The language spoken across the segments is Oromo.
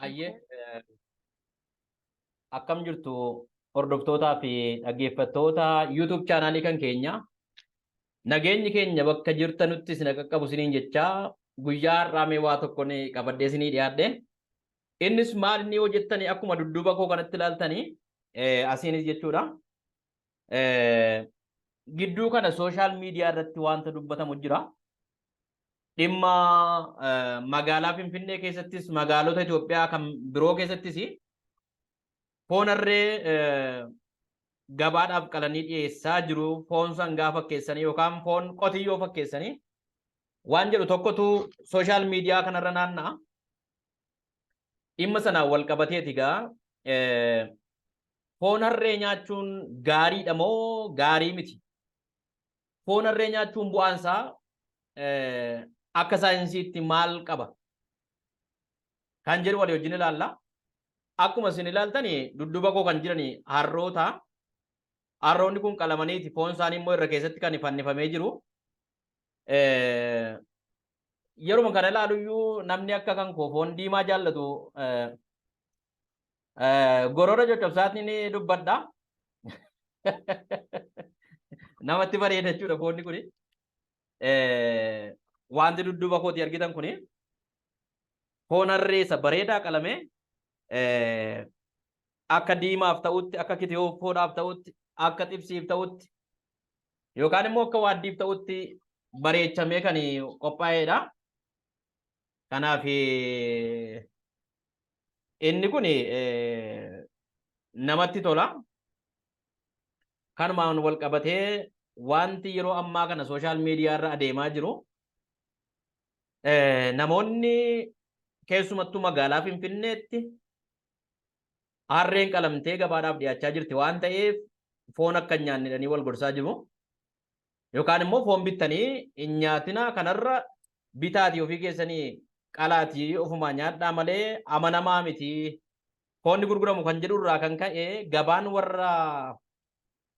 Ayyee akkam jirtu hordoftootaa fi dhaggeeffattoota YouTube chaanaalii kan keenya nageenyi keenya bakka jirtanutti isin qaqqabu isiniin jechaa guyyaa har'aa mee waa tokkoon qabadhee isinii dhiyaadhe. Innis maal inni hojjettanii akkuma dudduuba koo kanatti ilaaltanii asiinis jechuudha. Gidduu kana sooshaal miidiyaa irratti wanta dubbatamu jira. Dhimma magaalaa Finfinnee keessattis magaalota Itoophiyaa kan biroo keessattis foon harree gabaadhaaf qalanii dhiyeessaa jiru foon sangaa fakkeessanii yookaan foon qotiyyoo fakkeessanii waan jedhu tokkotu sooshaal miidiyaa kanarra naanna'a. Dhimma sanaan wal qabateeti egaa foon harree nyaachuun gaariidha moo gaarii miti? Foon harree nyaachuun bu'aan isaa akka saayinsiitti maal qaba? Kan jedhu walii wajjin ilaalla. Akkuma isin ilaaltan dudduuba koo kan jiran harroota. Harroonni kun qalamaniiti foon isaanii immoo irra keessatti kan fannifamee jiru. yeruma kana ilaalu iyyuu namni akka kan koo foon diimaa jaallatu gorora coccobsaatiin dubbadha. Namatti bareeda jechuudha foonni kuni. Wanti dudduuba kooti argitan kuni foon harreessa bareedaa qalamee akka diimaaf ta'utti, akka kitiyoofoodhaaf ta'utti, akka xibsiif ta'utti, yookaan immoo akka waaddiif ta'utti bareechamee kan qophaa'edha. Kanaaf inni kun namatti tola. Kanumaan wal qabatee wanti yeroo ammaa kana sooshaal miidiyaa irra adeemaa jiru namoonni keessumattuu magaalaa Finfinneetti Harreen qalamtee gabaadhaaf dhiyaachaa jirti waan ta'eef foon akka hin nyaanne jedhanii wal gorsaa jiru. Yookaan immoo foon bittanii hin nyaatinaa kanarra bitaatii ofii keessanii qalaatii ofumaa nyaadhaa malee amanamaa miti. Foonni gurguramu kan jedhu irraa kan ka'e gabaan warra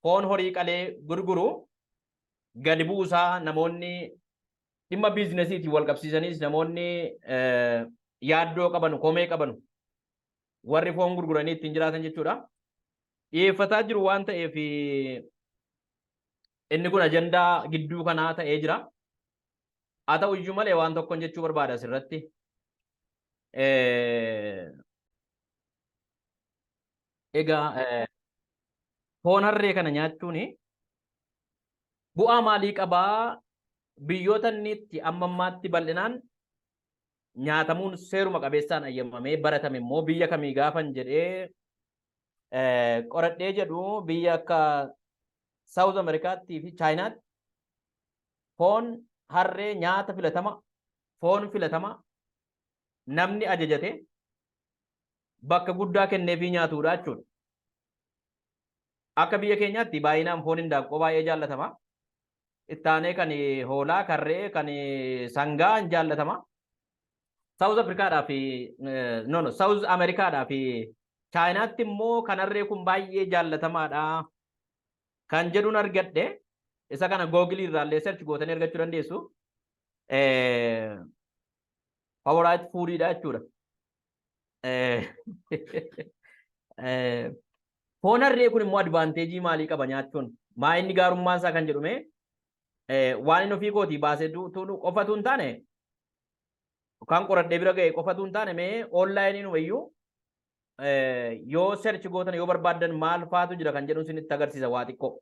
foon horii qalee gurguru gadi bu'uusaa namoonni Dhimma biizinasiitiin wal qabsiisaniis namoonni yaaddoo qabanu, komee qabanu warri foon gurguranii ittiin jiraatan jechuudha. Dhiyeeffataa jiru waan ta'eef inni kun ajandaa gidduu kanaa ta'ee jira. Haa ta'u iyyuu malee waan tokkon jechuu barbaada asirratti. Egaa eh, foon harree kana nyaachuun bu'aa maalii qabaa? Biyyoota inni itti amma ammaatti bal'inaan nyaatamuun seeruma qabeessaan ayyamamee baratame immoo biyya kamii gaafan jedhee eh, qoradhee jedhu biyya akka Saawuz Ameerikaattii fi Chaayinaatti foon harree nyaata filatama, foon filatama namni ajajate bakka guddaa kenneefii nyaatuudha jechuudha. Akka biyya keenyaatti baay'inaan foon hindaaqqoo baay'ee jaallatama. Ittaanee kan hoolaa, kan re'ee, kan sangaa hin jaallatama. Saawuz Afrikaadhaa fi no no Saawuz Ameerikaadhaa fi Chaayinaatti immoo kan harree kun baay'ee jaallatamaadha kan jedhuun argadhe isa kana googilii irraallee search gootanii argachuu dandeessu. Favorite foodidha jechuudha. Foon harree kun immoo advaanteejii maalii qaba nyaachuun? Maa inni gaarummaan isaa kan jedhume waan inni ofii kootii baasee tuunu qofatu hin taane kan qoradhee bira ga'e qofatu hin taane mee oonlaayiniin wayyuu yoo search gootan yoo barbaadan maal faatu jira kan jedhu isinitti agarsiisa waa xiqqoo.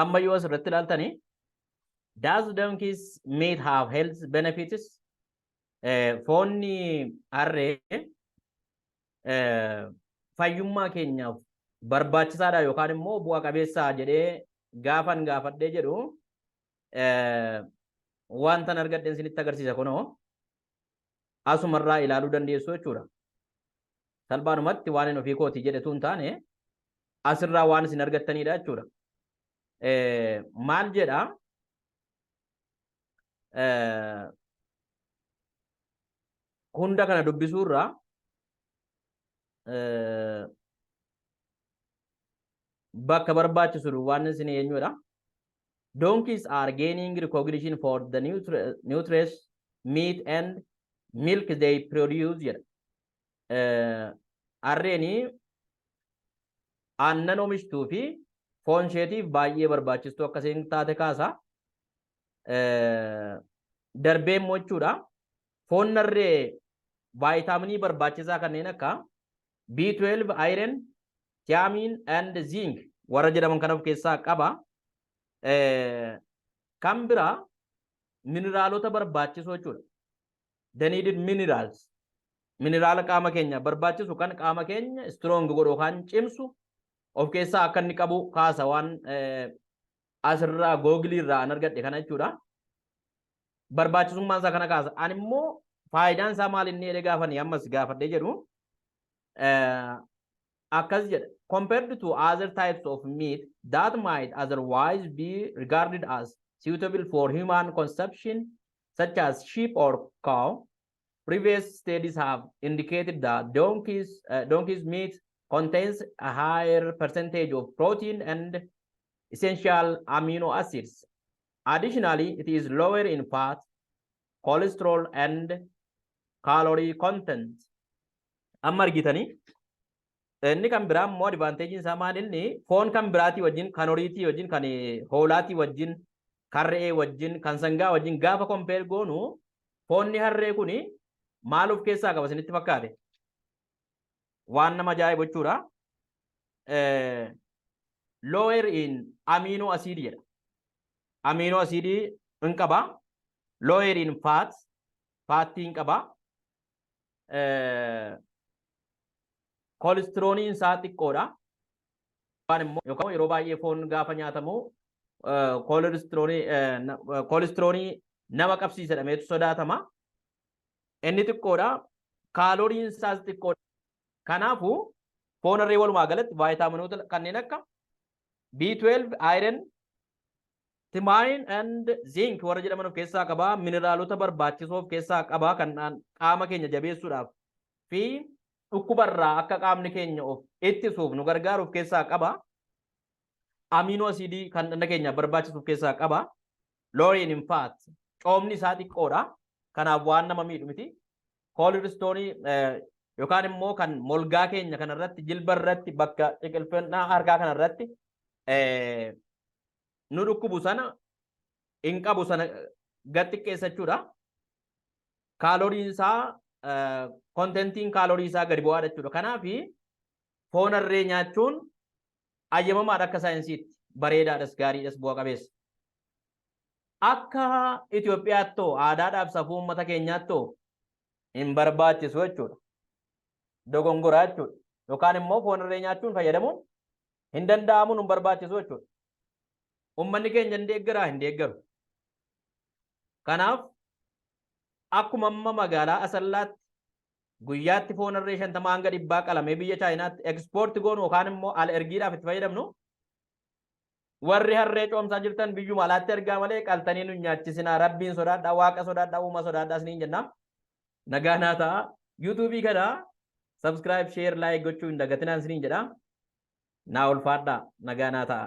Amma yoo asirratti ilaaltani does donkeys meat have health benefits? Foonni harree fayyummaa keenyaaf barbaachisaadha yookaan immoo bu'a qabeessaa jedhee gaafan gaafadhee jedhu wantan argadheen sinitti agarsiisa kunoo asuma irraa ilaaluu dandeessu jechuudha. Salbaanumatti waan hin ofii kooti jedhetu hin taane asirraa waan isin argattanidha jechuudha. Maal jedha? Hunda kana dubbisuurraa bakka barbaachisu waan isin eenyudha. Donkeys are gaining recognition for the nutre- nutritious meat and milk they produce jedha. Eh, Harreeni aannan oomishtuu fi foon isheetiif baay'ee barbaachistuu akka isheen taate kaasa. Eh, Darbee immoo jechuudha. Foon harree vaayitaaminii barbaachisaa kanneen akka B12, iron, thiamine and zinc warra jedhaman kan of keessaa qaba. Kan biraa mineraalota barbaachisoo jechuudha. The needed minerals. Mineraala qaama keenya barbaachisu kan qaama keenya strong godhu kan cimsu of keessaa akka inni qabu kaasa waan asirraa googilii irraa an argadhe kana jechuudha. barbaachisummaan isaa kana kaasa. Ani immoo faayidaan isaa maal inni jedhee gaafanii ammas gaafadhee jedhu akkas jedha. Compared to other types of meat that might otherwise be regarded as suitable for human consumption such as sheep or cow, previous studies have indicated that donkeys, uh, donkeys meat contains a higher percentage of protein and essential amino acids Additionally, it is lower in fat, cholesterol and calorie content. Amma argitanii inni kan biraa immoo advanteejiin isaa maal inni foon kan biraatii wajjin kan horiitii wajjin kan hoolaatii wajjin kan re'ee wajjin kan sangaa wajjin gaafa kompeer goonu foonni harree kun maal of keessaa qaba isinitti fakkaate waan nama ajaa'ibu jechuudha. Lower in amino acid jedha. Amino acid hin qaba. Lower in fat, faattii hin qaba. Koolistirooniin isaa xiqqoodha. Waan immoo yookaan yeroo baay'ee foon gaafa nyaatamu koolistiroonii nama qabsiisa jedhameetu sodaatama. Inni xiqqoodha. Kaalooriin isaas xiqqoodha. Kanaafuu foon harree walumaa galatti vaayitaaminoota kanneen akka B12, iron, timaayin and zinc warra jedhaman of keessaa qaba. Mineraalota barbaachisoo of keessaa qaba kan qaama keenya jabeessuudhaaf fi dhukkubarraa akka qaamni keenya of ittisuuf nu gargaaru of keessaa qaba. Amiinoo asiidii kan dhagna keenyaaf barbaachisu of keessaa qaba. Looriin in fact coomni isaa xiqqoodha. Kanaaf waan nama miidhu miti. Koolistoonii yookaan immoo kan molgaa keenya kanarratti jilba irratti bakka ciqilfannaa harkaa kanarratti nu dhukkubu sana hin qabu sana gad xiqqeessachuudha. Kaaloriin isaa kontentiin kaalorii isaa gadi bu'aadha jechuudha. Kanaaf foon harree nyaachuun ayyamamaadha akka saayinsiitti bareedaadhas gaariidhas bu'a qabeessa. Akka Itoophiyaattoo aadaadhaaf safuu uummata keenyaattoo hin barbaachisu jechuudha. Dogongoraa jechuudha. Yookaan immoo foon irree nyaachuun fayyadamuun hin danda'amu hin barbaachisu jechuudha. Uummanni keenya hin deeggaraa hin deeggaru. Kanaaf akkuma amma magaalaa Asallaatti guyyaatti foon harree shantamaa hanga dhibbaa qalamee biyya chaayinaatti ekspoorti goonu yookaan immoo al ergiidhaaf itti fayyadamnu warri harree coomsaa jirtan biyyuma alaatti ergaa malee qaltanii nu nyaachisinaa rabbiin sodaadhaa waaqa sodaadhaa uuma sodaadhaa isiniin jenna nagaa naa ta'a yuutuubii kana sabskiraayib sheer laayik gochuu hin dagatinaan isiniin jedha naa ulfaadhaa nagaa naa ta'a.